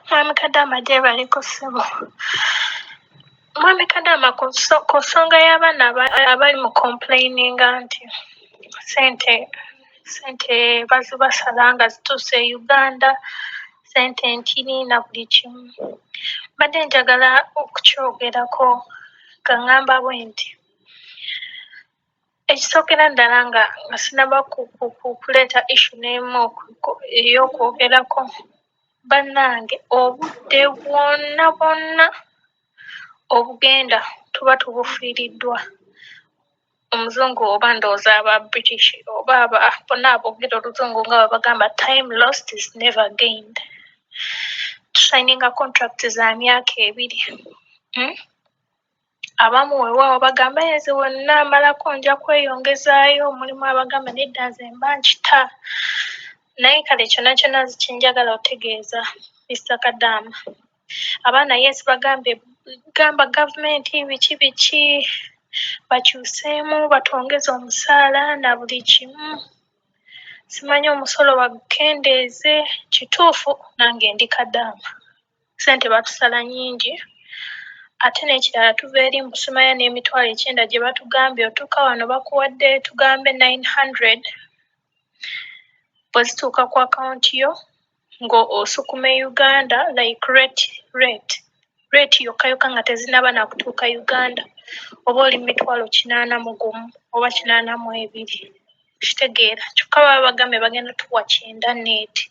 Mwami Kadaama gyebaliko ssebo. Mwami Kadaama ku nso ku nsonga y'abaana aba- abali mu complaininga nti sente sente bazibasala nga zituuse e Uganda sente ntini na buli kimu. Mbadde njagala okukyogerako nga ŋŋamba bwenti. Ekisookera ddala nga nga sinaba kuleeta ishu n'emu ey'okwogerako, bannange obudde bwonna bwonna obugenda tuba tubufiiriddwa Omuzungu oba ndowooza aba British oba aba bonna aboogera Oluzungu nga bwe bagamba time lost is never gained. Tusayininga kontulakiti za myaka ebiri. abamu weewaawo bagamba ye nze we nnaamalako nja kweyongezaayo. Mulimu abagamba nedda nze mba nkita. Naye kale kyonna kyonna kye njagala otegeeza Mister Kadaama, abaana yes bagambye gamba gavumenti biki biki bakyuseemu batwongeze omusaala na buli kimu. Simanyi omusolo bagukendeeze. Kituufu nange ndi Kadaama. Ssente batusala nnyingi ate n'ekirala tuva eri mu Sumaya n'emitwalo ekyenda gye batugambye otuuka wano bakuwadde tugambe nine hundred bwe zituuka ku akawunti yo ng'osukuma e Uganda like rate rate rate yokka yokka nga tezinnaba na kutuuka Uganda oba oli mu mitwalo kinaana mu gumu oba kinaana mu ebiri. okitegeera kyokka baba bagambye bagenda tuwa kyenda neeti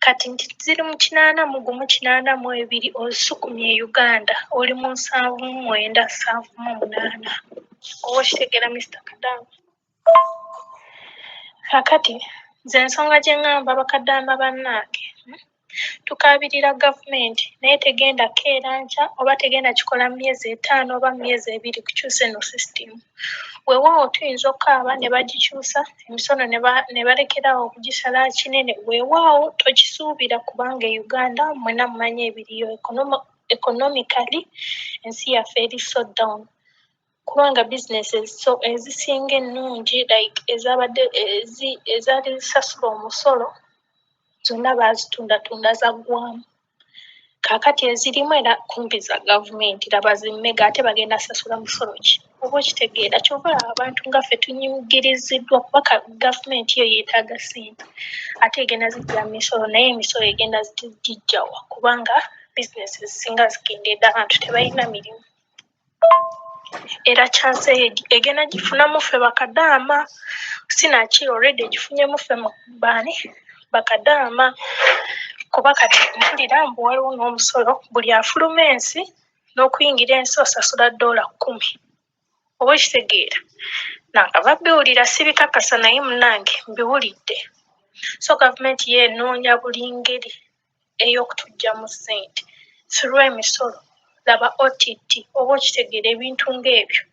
kati nti ziri mu kinaana mu gumu kinaana mu ebiri osukumye e uganda oli mu nsanvu mu mwenda nsanvu mu munaana oba okitegeera mister kadaama kakati nze ensonga gye ŋŋamba bakadaama bannaange hmm? Tukaabirira gavumenti naye tegenda keera nkya oba tegenda kikola mu myezi etaano oba mu myezi ebiri kukyusa eno sisitimu. Weewaawo tuyinza okukaaba ne bagikyusa emisono ne ba ne balekera awo okugisala kinene, weewaawo tokisuubira kubanga e Uganda mmwenna mumanyi ebiriyo economically ensi yaffe eri so down. kubanga business eziso ezisinga ennungi like ezabadde ezi ezaali zisasula omusolo zonna baazitundatunda zaggwamu kaakati ezirimu era kumpi za gavumenti laba zi mega ate bagenda sasula musolo ki oba okitegeera kyova olaba abantu nga ffe tunyigiriziddwa kuba ka gavumenti yo yeetaaga ssente ate egenda zijja mu misolo naye emisolo egenda gijjawa kubanga bizinesi ezisinga zikendeedde abantu tebalina mirimu Era chance eyo egenda gifunamu ffe bakadaama sinakyi already egifunyemu ffe baani bakadaama kuba kati mpulira mbu waliwo nomusolo buli afuluma ensi nokuyingira ensi osasula dollar kkumi oba okitegeera nakava biwulira sibikakasa naye munange mbiwulidde so government yo enoonya buli ngeri. ey'okutuggyamu ssente through emisolo, laba OTT oba okitegeera ebintu ng'ebyo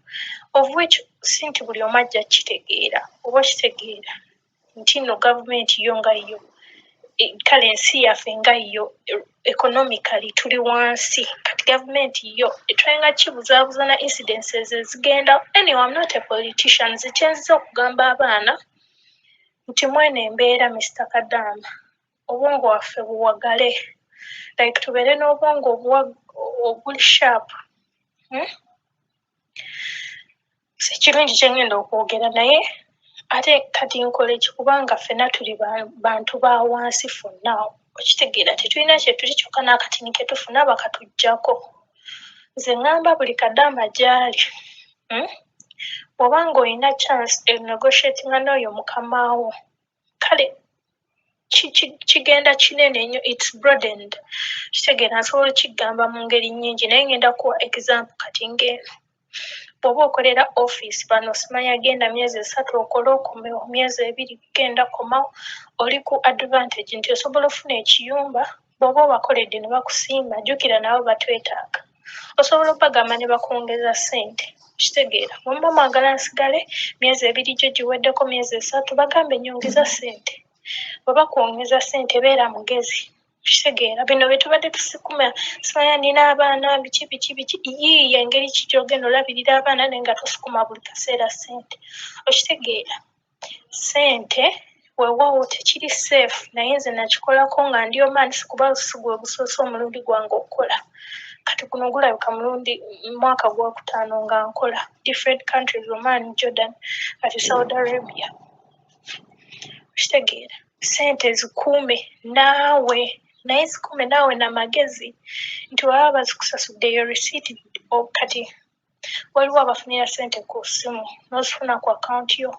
of which si nti buli omu ajja kukitegeera oba okitegeera nti nno gavumenti yo nga yo kale ensi yaffe nga yo economically tuli wansi kati gavumenti yo etwenga kibuzaabuza na incidences ezigenda anyway I'm not a politician nze kye nziza okugamba abaana nti mweno embeera Mister Kadaama obwongo waffe buwagale like tubeere n'obwongo obuli sharp hmm? sikirungi kyengenda okwogera naye ate kati nkola eki kubanga ffena tuli bantu ba wansi fonna okitegeera tetulina kyetuli kyokka n'akatini ketufuna bakatuggyako nze ŋŋamba buli kadaama gyali hmm? bw'oba nga olina chance enegotiatinga n'oyo mukamaawo kale kigenda kinene nnyo its brodened kitegeera nsobola okiggamba mu ngeri nnyingi naye ngenda kuwa example kati nge bw'oba okolera office bano simanya genda myezi esatu okole okome myezi ebiri genda komawo oli ku advantage nti osobola ofuna ekiyumba bw'oba obakoledde ne bakusiima jjukira nabo batwetaaga osobola okubagamba ne bakwongeza ssente kitegeera mumba mwagala nsigale myezi ebiri gyo giweddeko myezi esatu bagambe nyongeza ssente oba kwongeza ssente beera mugezi kitegeera bino bye tubadde tusikuma simanya nina abaana biki biki biki yiiyo engeri ki gyogenda olabirira abaana naye nga tusukuma buli kaseera ssente okitegeera sente wewawo tekiri safe naye nze nakikolako nga ndi omansi kuba sigwe gusoose omulundi gwange okukola kati guno gulabika mulundi mwaka gwakutaano nga nkola different countries oman jordan kati saudi arabia okitegeera sente zikuume naawe naye zikuume naawe namagezi nti waba bazikusasuddeyo receipt kati waliwo abafunira sente ku simu nozifuna ku akawunti yo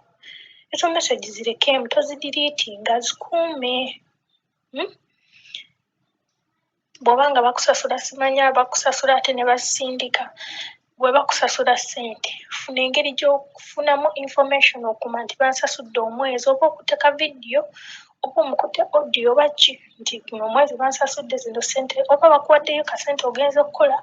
ezo message zirekeemu tozidiriitinga zikuume hmm? bwoba nga bakusasula simanya bakusasula ate ne basindika bwe bakusasula sente funa engeri gyokufunamu information okuma nti bansasudde omwezi oba okuteka vidiyo oba omukute audio oba ki nti guno omwezi bansasudde zino sente oba bakuwaddeyo kasente ogenza okukola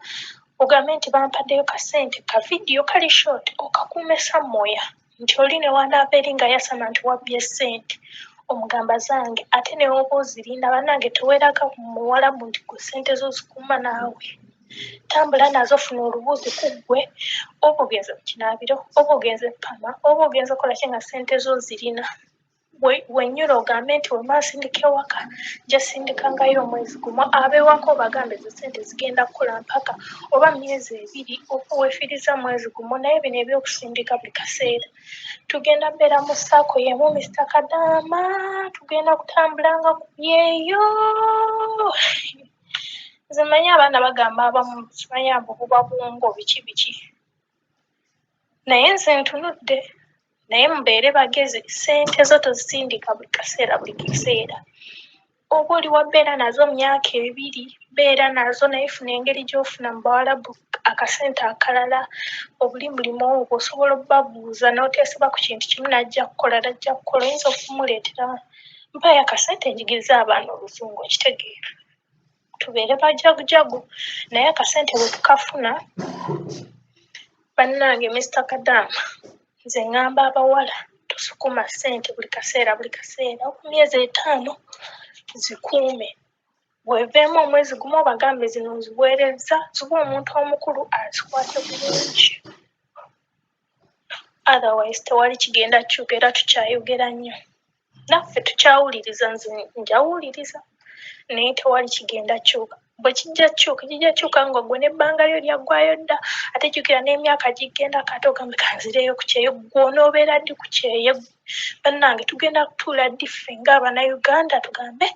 Ogambe nti bampaddeyo ka ssente ka vidiyo kali short okakuume samoya nti oli ne wanaava eri nga yasama nti wabbye ssente omugamba zange ate ne oba ozirinda bannange teweraga muwalabu nti gwe ssente zo zikuuma naawe tambula nazo funa olubuuzi ku ggwe oba ogenze mu kinaabiro oba ogenze pama oba ogenze okola ki nga ssente zo zirina we- wenyini ogambe nti wemba nsindika ewaka nja sindika ngayo omwezi gumu abewaka obagambe ezo sente zigenda kukula mpaka oba myezi ebiri okuwefiriza mwezi gumu naye bino ebyokusindika buli kaseera tugenda beera mu saako yemu mr kadaama tugenda kutambulanga ku byeyo nze manyi abaana bagamba abamu simanyi abo buba bwongo biki biki naye nze ntunudde naye mubeere bagezi sente zo tozisindika buli kaseera buli kiseera oba oli wabeera nazo myaka ebiri beera nazo naye funa engeri gyofuna mu bawalabu akasente akalala obuli mulimu ogwo osobola obabuuza noteseba ku kintu kimu najja kukola najja kukola oyinza okumuleetera mpaayo akasente njigirize abaana oluzungu okitegeera tubeere bajagujagu naye akasente bwe tukafuna bannange mister kadaama nze ŋŋamba abawala tosukuma ssente buli kaseera buli kaseera oku myezi etaano zikuume weveemu omwezi gumu obagambe zino nziweerezza ziba omuntu omukulu azikwate bulungi otherwise tewali kigenda kukyuka era tukyayogera nnyo naffe tukyawuliriza nze njawuliriza naye tewali kigenda kyuka bwe kijja kyuka kijja kyuka nga gwe nebbanga lyo lyaggwayo dda ate jjukira n'emyaka giggenda kate ogambe kanzireyo ku kyeyo gwonoobeera ddi ku kyeyo bannange tugenda kutuula ddi ffe nga abanauganda tugambe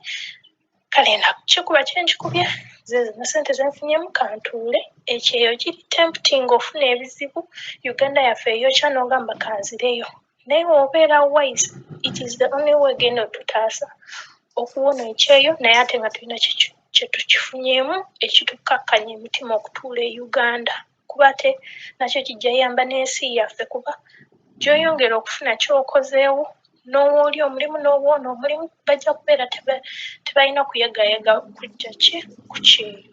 kale nakikuba kye nkikubye nze zino sente zenfunyemu kantuule ekyeyo kiri tempting ofuna ebizibu uganda yaffe eyokya nogamba kanzireyo naye obeera wise it is the only way genda otutaasa okuwona ekyeyo naye ate nga tulina kyetukifunyemu ekitukakkanya emitima okutuula e uganda kuba ate nakyo kijja yamba n'ensi yaffe kuba gyoyongera okufuna kyokozeewo n'owooli omulimu n'obwona omulimu bajja kubeera tebalina kuyagayaga kujja ki ku kyeyo.